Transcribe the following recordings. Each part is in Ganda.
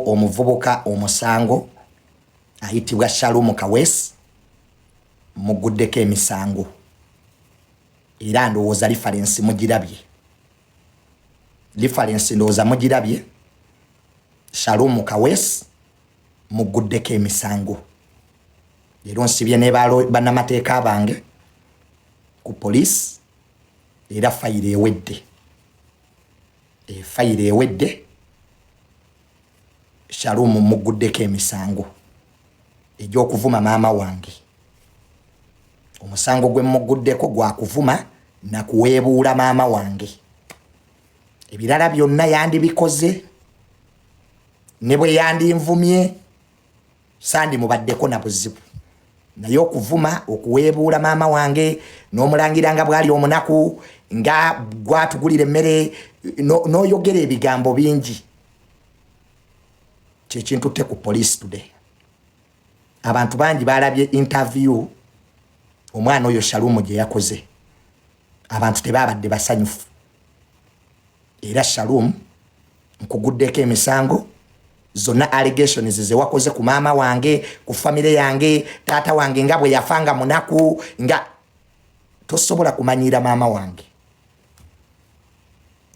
omuvubuka omusango ayitibwa Shalom Kawesi muguddeko emisango era ndowooza lifalensi mugirabye lifalensi ndowooza mugirabye Shalom Kawesi muguddeko emisango leero nsibye ne banamateeka bange ku poliisi era fayiro ewedde efayiro eh, ewedde shalumu mugguddeko emisango egy'okuvuma maama wange omusango gwe mugguddeko gwa kuvuma na kuweebuula maama wange ebirala byonna yandibikoze ne bwe yandinvumye sandi mubaddeko na buzibu naye okuvuma okuweebuula maama wange n'omulangira nga bwali omunaku nga gwatugulira emmere n'oyogera ebigambo bingi kyekintutte ku police today abantu bangi balabye interview omwana oyo shalumu gye yakoze abantu tebaabadde basanyufu era shalom nkuguddeko emisango zonna allegations zewakoze ku maama wange ku famire yange taata wange nga bwe yafa nga munaku nga tosobola kumanyiira maama wange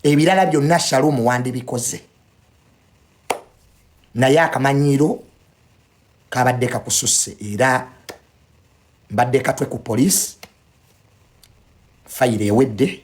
ebirala byonna shalumu wandibikoze naye akamanyiiro kabadde kakususse era mbadde katwe ku poliisi fayiro ewedde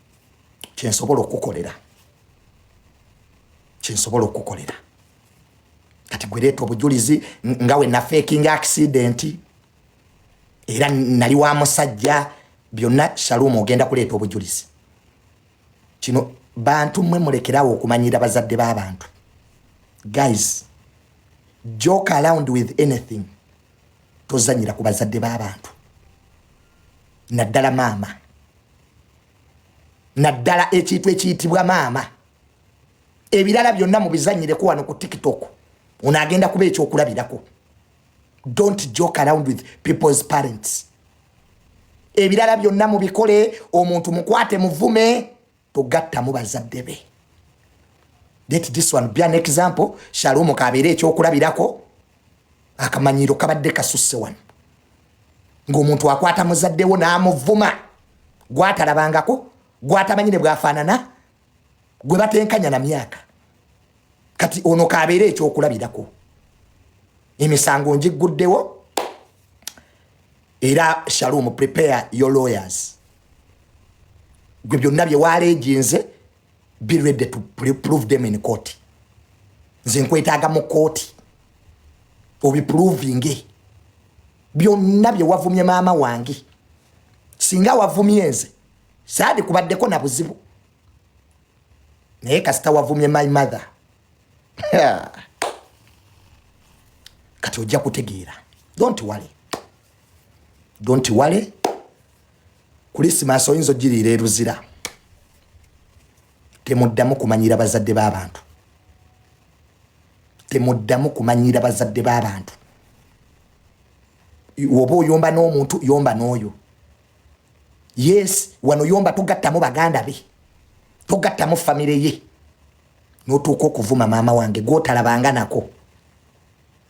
kyensobola okukukolera kyensobola okukukolera kati gwereeta obujulizi nga we nafeking accident era nali wa musajja byonna shalumu ogenda kuleeta obujulizi kino bantu mwe mulekerawo okumanyira bazadde b'abantu guys joke around with anything tozanyira ku bazadde b'abantu naddala maama naddala ekintu ekiyitibwa maama ebirala byonna mubizanyireko wano ku tiktok ono agenda kuba ekyokulabirako don't joke around with people's parents ebirala byonna mubikole omuntu mukwate muvume togattamu bazadde be let this one be an example shalumu kabeere ekyokulabirako akamanyiiro kabadde kasusse wano ng'omuntu akwata muzaddewo n'amuvuma gwatalabangako gwatamanyi ne bwafaanana gwe batenkanya na myaka kati ono kabeera ekyokulabirako emisango ngigguddewo era shalom prepare your lawyers gwe byonna byewaleejinze be ready to prove them in court nze nkwetaaga mu kooti obiprovinge byonna bye wavumye maama wange singa wavumye nze saadi kubaddeko na buzibu naye kasita wavumye my mother kati ojja kutegeera don't worry don't wale kulisimaasi oyinza ogiriira eruzira temuddamu kumanyira bazadde b'abantu temuddamu kumanyira bazadde b'abantu oba oyomba n'omuntu yomba n'oyo yes wano yomba togattamu baganda be togattamu famire ye notuuka okuvuma maama wange gwotalabanga nako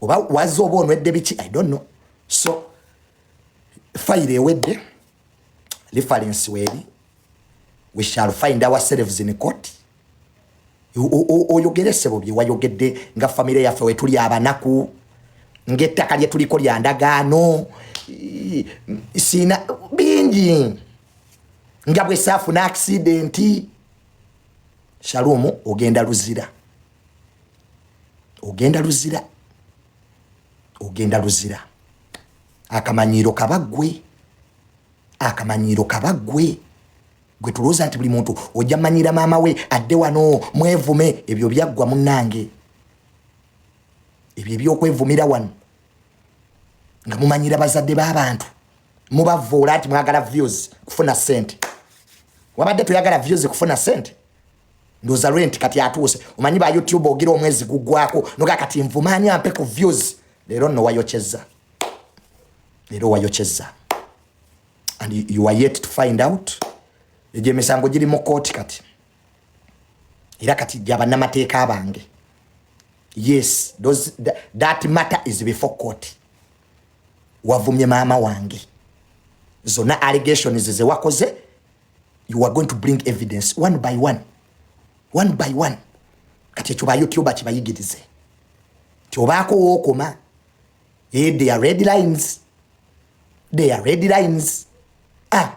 oba waze oba onwedde biki i don't know so fayiro ewedde reference weeri we shall find ourselves in court oyogere sebo bye wayogedde nga famire yaffe wetuli abanaku ngaettaka lye tuliko lya ndagaano siina bingi nga bwe saafuna akisidenti shalumu ogenda luzira ogenda luzira ogenda luzira akamanyiiro kaba gwe akamanyiiro kaba gwe gwe tulowooza nti buli muntu ojja manyira maama we adde wano mwevume ebyo byaggwa munnange ebyo ebyokwevumira wano nga mumanyira bazadde b'abantu mubavuula nti mwagala views kufuna sente wabadde toyagala views kufuna sente ndoza rent kati atuuse omanyi ba youtube ogira omwezi gugwako noga kati nvumanya ampe ku views lero no wayocheza lero wayocheza and you are yet to find out egyo emisango giri mu kooti kati era kati gyabanamateeka abange yes those, that, that matter is before court wavumye maama wange zona allegations zewakoze you are going to bring evidence one by one one by one kati ekyo bayoutube kibayigirize ti obaako wookoma e they are red lines they are red lines ah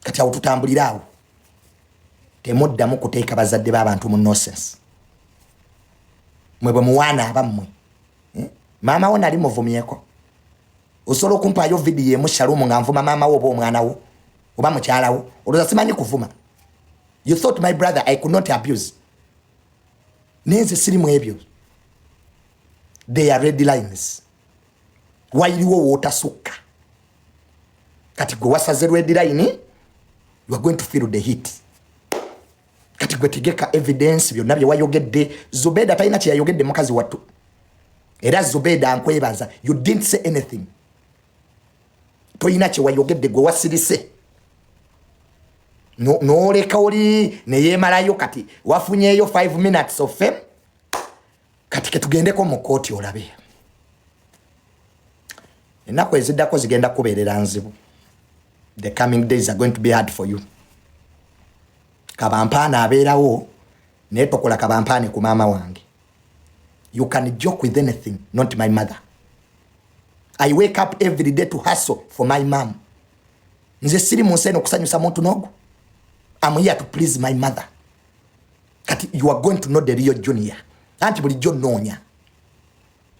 kati awo tutambulira awo temuddamu kuteeka bazadde b'abantu mu nosense mwe bwe muwaana abammwe eh? maama wo nali muvumyeko osobola okumpaayo vidiyo emu shalumu nga nvuma maama wo oba omwana wo oba mukyala wo olwoza simanyi kuvuma you thought my brother i could not abuse naye nze siri mu ebyo they are red lines wayiriwo wootasukka kati gwe wasaze red line you are going to feel the heat kati gwe tegeka evidence byonna bye wayogedde zubeda talina kye yayogedde mukazi wattu era zubeda nkwebaza you didn't say anything tolina kye wayogedde gwe wasirise noleka oli neyemalayo kati wafunyeyo 5 minutes of fame kati ketugendeko mu kooti olabe ennaku eziddako zigenda kubeerera nzibu the coming days are going to be hard for you kabampaana abeerawo naye tokola kabampaane ku maama wange you can joke with anything not my mother i wake up every day to hustle for my mom nze siri mu nsi eno okusanyusa muntu nogu am here to please my mother kati you are going to know the real junior anti bulijjo nnoonya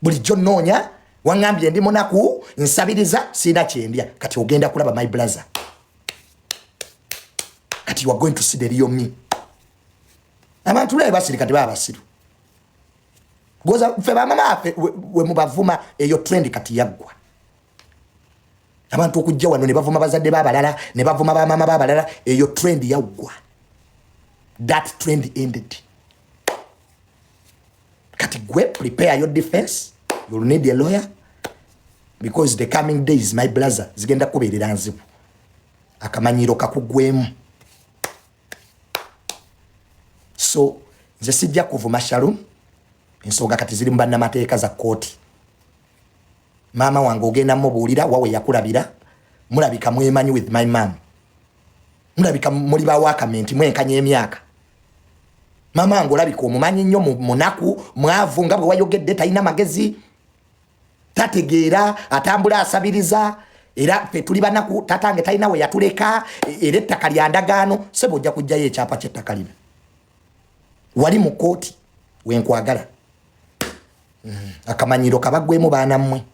bulijjo nnoonya waŋambye ndi munaku nsabiriza siina kyendya kati ogenda kulaba my blazer kati you are going to see the real me abantu bulabe basiri kati baba basiru goza fe bamama afe wemubavuma eyo trend kati yaggwa abantu okujja wano ne bavuma bazadde babalala ne bavuma bamaama babalala eyo trend yaggwa that trend ended kati gwe prepare your defense you'll need a lawyer because the coming days my blazer zigenda kubeerera nzibu akamanyiiro kakugwemu so nze sijja kuvuma shalom ensonga kati ziri mu bannamateeka za kkooti maama wange ogenda mubuulira wawe yakulabira mulabika mwemanyi with my mam mulabika muli bawakamenti mwenkanya emyaka maama wange olabika omumanyi nnyo munaku mwavu nga bwe wayogedde talina magezi tategeera atambula asabiriza era fe tuli banaku tatange talina we yatuleka e, era ettaka lya ndagaano sebo ojja kujjayo ekyapa kyettaka lino wali mu kooti wenkwagala mm. akamanyiro kabagwemu baana mmwe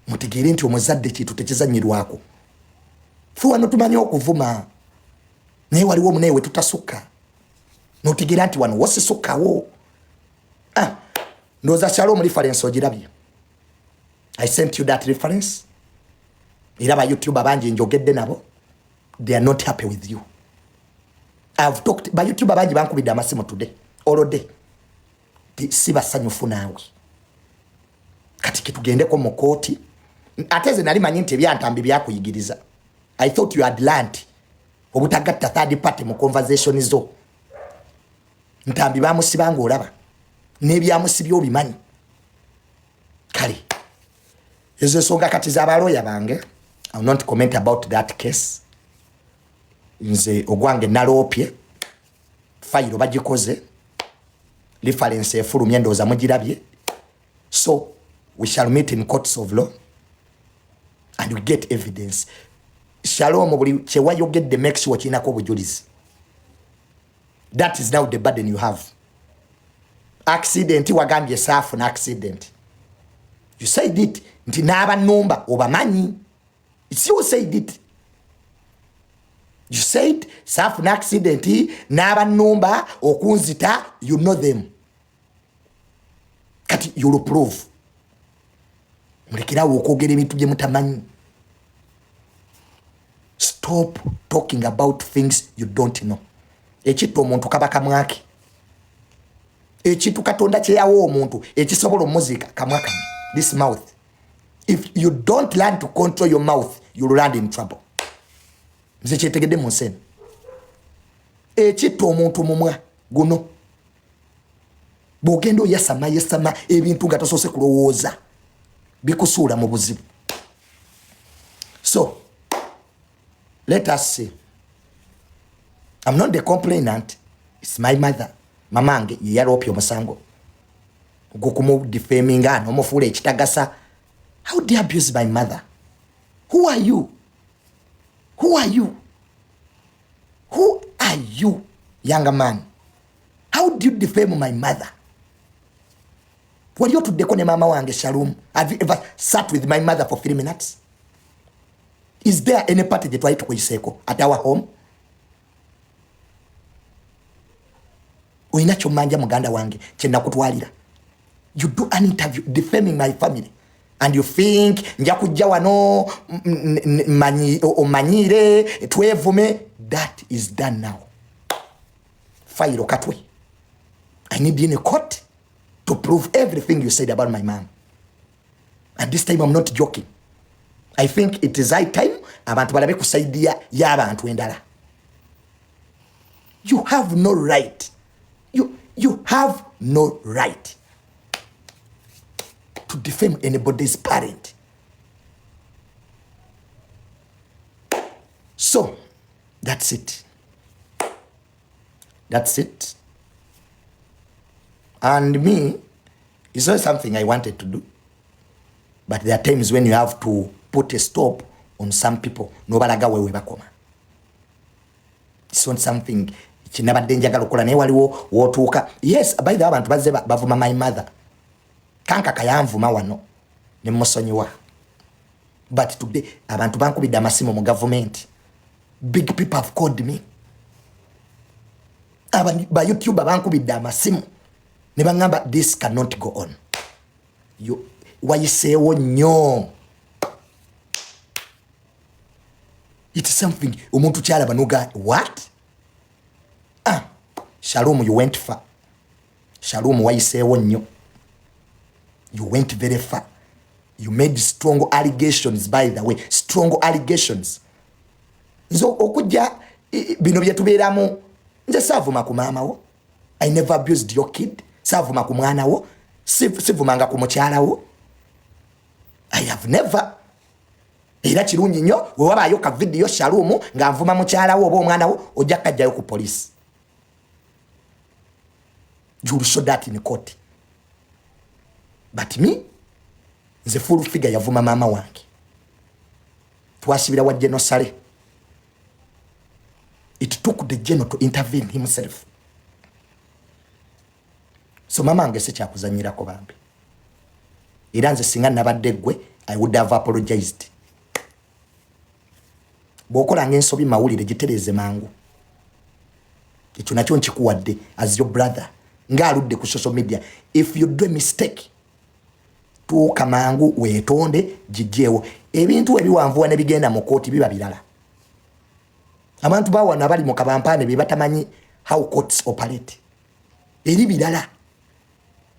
mutegeere nti omuzadde kintu tekizanyirwako fe wano tumanyi okuvuma naye waliwo omunaye wetutasukka notegeera nti wano wosisukkawo ah, ndooza kyalo omulifarensi ogirabye i sent you that reference era ba youtuba bangi njogedde nabo they are not happy with you i've talked ba youtuber bangi bankubidde amasimu today all day si basanyufu naawe kati kitugendeko mu kooti ate ze nali manyi nti ebyantambi byakuyigiriza i thought you had learned obutagatta third party mu conversation zo ntambi bamusibanga olaba nebyamusibya obimanyi kale ezo ensonga kati zabalooya bange ill not comment about that case nze ogwange naloopye fayiro bagikoze lifalensi efulumye endowooza mugirabye so we shall meet in courts of law and we get evidence shalom buli kyewayogedde make sure kirinako obujulizi that is now the burden you have accident wagambye saafu na accident you said it nti n'abanumba obamanyi it's you said it you said saafu na accident n'abanumba okunzita you know them kati yolo proof mulekerawo okwogera ebintu bye mutamanyi stop talking about things you don't know ekitta omuntu kaba kamwake ekintu katonda kyeyawa omuntu ekisobola omuziika kamwa kano this mouth if you don't learn to control your mouth you'll land in trouble nze kyetegedde mu nsi eno ekitta omuntu mumwa guno bwogenda oyasama yasama ebintu nga tosoose kulowooza bikusuula mu buzibu so let us see am not the complainant its my mother mamange yeyaloopya omusango gukumudifaminga nomufuula ekitagasa how do abuse my mother who are you who are you who are you younger man how do you defame my mother wali otuddeko ne maama wange shalom have you ever sat with my mother for three minutes is there any party gyetwali tukuyiseeko at our home olina kyomanja muganda wange kyenakutwalira you do an interview defaming my family and you think nja kujja wano omanyiire twevume that is done now fayiro katwe i need in a court to prove everything you said about my mom at this time i'm not joking i think it is high time abantu balabe ku saidi y'abantu endala you have no right you, you have no right to defame anybody's parent so that's it That's it. And me, it's not something I wanted to do. But there are times when you have to put a stop on some people. Nobalaga wewe bakoma. It's not something kinabadde njagala okukola naye waliwo wotuuka yes by the abantu bazze bavuma my mother kanka kayanvuma wano ne musonyiwa but today abantu bankubidde amasimu mu gavumenti big people have called me ba youtube bankubidde amasimu ne baŋamba this cannot go on wayiseewo nnyo it something omuntu kyalaba noga what ah, shalom you went far shalom wayiseewo nnyo you went very far you made strong allegations by the way strong allegations nze okujja bino byetubeeramu nze saavuma ku maama wo i never abused your kid saavuma ku mwana wo sivumanga ku mukyala wo i have never era kirungi nnyo wewabaayo ka vidiyo shaluumu nga nvuma mukyala wo oba omwana wo ojja kajjayo ku poliisi you'll show that in court but me nze full figure yavuma maama wange twasibira wa geno sale it took the geno to intervene himself so mama nge sikyakuzanyirako bambi era nze singa nabadde gwe i would have apologized bwokolanga ensobi mawulire gitereeze mangu ekyo nakyo nkikuwadde as your brother ng'aludde ku social media if you do a mistake tuuka mangu wetonde gigyewo ebintu webiwanvuwa nebigenda mu kooti biba birala abantu bawano abali mu kabampaane bebatamanyi how courts operate eri birala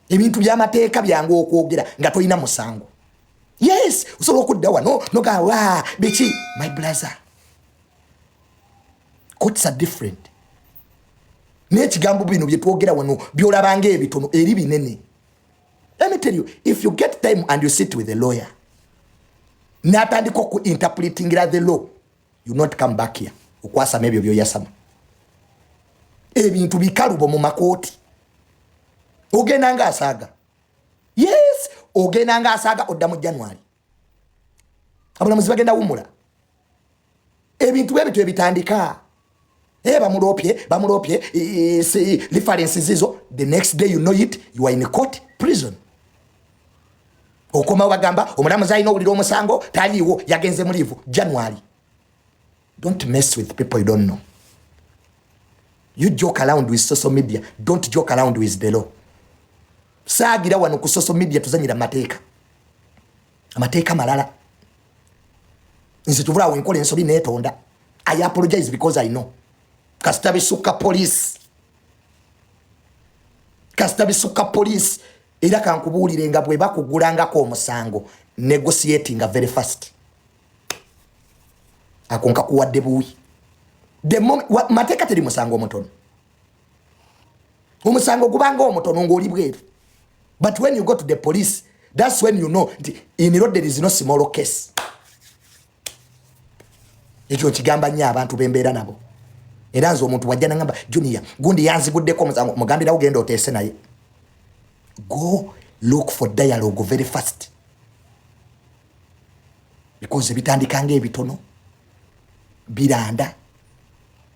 ebintu byamateeka byangu okwogera nga tolina musango yes osobola okudda wano nogawa biki my blazer courts are different nekigambo bino byetwogera wano byolabanga ebitono eri binene Let me tell you, if you get time and you sit with a lawyer, natandika oku interpretingira the law, you not come back here. Ukwasa mebyo byo yasama. Ebintu bikalubo mu makoti. Ogenda nga asaga. Yes, ogenda nga asaga odda mu January. abulamuzi bagenda wumula ebintu bwe bityo ebitandika e eh, bamulopye bamulopye references zizo the next day you know it you are in court prison okomawo bagamba omulamuzi alina owulira omusango taliiwo yagenze muliivu january Don't mess with people you don't know. You joke around with social media. Don't joke around with the law. Saagira wano ku social media tuzanyira mateeka. Amateeka malala. Nze tuvula awo enkola ensobi netonda. I apologize because I know. Kasita bisukka police. Kasita bisukka police. Era kankubuulire nga bwe bakugulangako omusango. Negotiating very fast. ako nkakuwadde buwi mateeka teri musango omutono omusango gubanga omutono ngaoli bweru but when you go to the police thats when you know nti iniro there is no small case ekyo nkigamba nnyo abantu bembeera nabo era nze omuntu wajja nagamba junior gundi yanziguddeko omusango omugambirawo genda oteese naye go look for dialogue very fast bikoze bitandika nga ebitono biranda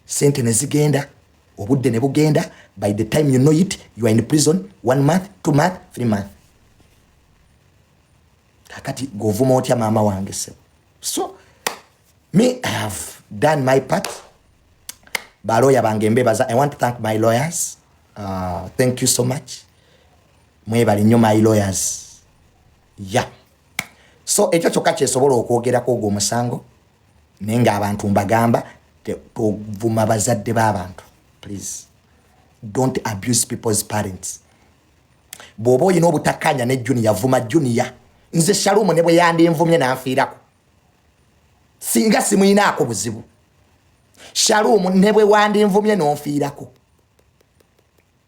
sente ne zigenda obudde ne bugenda by the time you know it you are in prison one month two month three month kakati govuma otya maama wange sebo so me i have done my part baloya bange mbebaza i want to thank my lawyers uh, thank you so much mwebali nyo my lawyers ya so ekyo kyokka kyesobola okwogerako ogwo omusango naye ngaabantu mbagamba tovuma bazadde b'abantu please don't abuse people's parents bw'oba olina obutakkaanya ne juniya vuma juniya nze shalumu ne bwe yandinvumye n'anfiirako singa simuyinaako buzibu shalumu ne bwe wandinvumye n'onfiirako